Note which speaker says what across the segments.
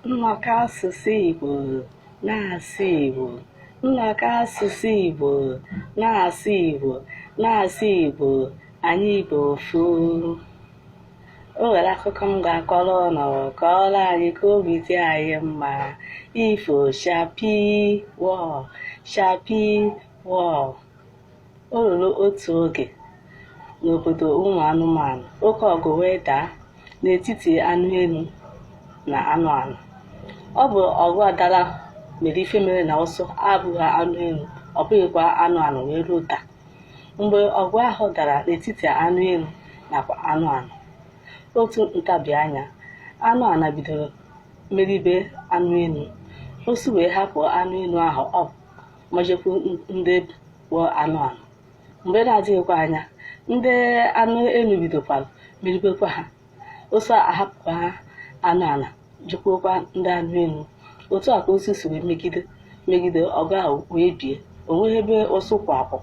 Speaker 1: Nnọkọ asụsụ Igbo na-asụ Igbo Nnọkọ asụsụ Igbo na-asụ Igbo na-asụ Igbo anyị bụ ofu o nwere akụkọ m ga-akọrọ ụnụ kọọrọ anyị ka obi dị anyị mma ifo chakpii wọọ chakpii wọọ O ruru otu oge n'obodo ụmụ anụmanụ, oke ọgụ wee daa n'etiti anụ enu na anụ ana. Ọ bụ ọgụ a dara mere ife mere na ụsụ abụghị anụ enu, ọ bụghịkwa anụ ana wee ruo taa. Mgbe ọgụ ahụ dara n'etiti anụ enu nakwa anụ ana, otu ntabi anya, anụ ana bido meribe anụ enu. Ụsụ wee hapụ anụ enu ahụ ọ ma jekwu ndị bụ anụ ana mgbe na-adịghịkwa anya ndị anụ enu bidokwara meribekwa ha ụsụ ahapụkwa ha anụ ana jekwukwa ndị anụ enu otu a ka ụsụ si wee megide megide ọgụ ahụ wee bie o nweghị ebe ụsụ kwụ akwụ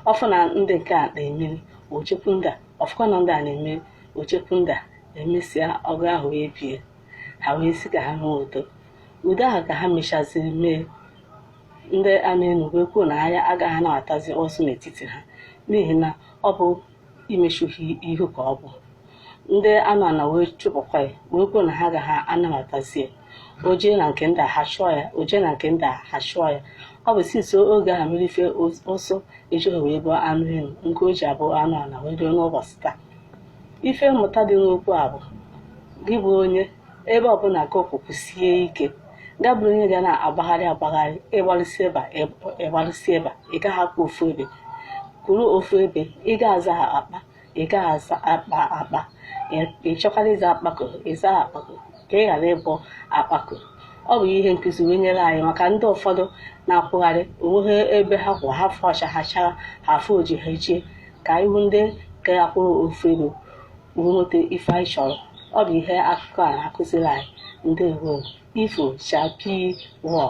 Speaker 1: ọ fụ na ndị nke a na-emeri o jekwu ndị a ọ fụkwa na ndị a na-emeri o jekwu ndị a e mesịa ọgụ ahụ wee bie ha wee sị ka ha nwee udo udo ahụ ka ha mechaziri mee ndị anụ enu ekwuo na ha agaghị anabatazi ụsụ n'etiti ha n'ihi na ọ bụ imechuhi ihu ka ọ bụ ndị anụ ana wee chụpụkwa ya wee kwuo na ha agaghị anabatazi ya o jee na nke ndị a ha chụọ ya o jee na nke ndị a ha chụọ ya ọ bụ since oge ahụ mere ife ụsụ ejighị wee bụ anụ enu nke o ji abụ anụ ana wee ruo n'ụbọchị taa ife mmụta dị n'okwu a bụ gị bụ onye ebe ọbụna ka ọkwụkwụ sie ike ga bụrụ onye ga na-agbagharị agbagharị ịgbalụsi ebe a ịgbalụsi ebe a ị gaghị akwụ ofu ebe kwụrụ ofu ebe ị ga-aza ha akpa ị gaghị aza akpa akpa ị chọkwara ịza akpako ịza akpako ka ị ghara ịbụ akpako ọ bụ ihe nkụzi wee nyere anyị maka ndị ụfọdụ na-akwụgharị o nweghị ebe ha kwụ ha fụ ọcha ha achaa ha fụ oji ha ejie ka ihu ndị ga-akwụrụ ofu ebe nweta ife anyị chọrọ ọ bụ ihe akụkọ a na-akụziri anyị ndewo ifo chakpii wọọ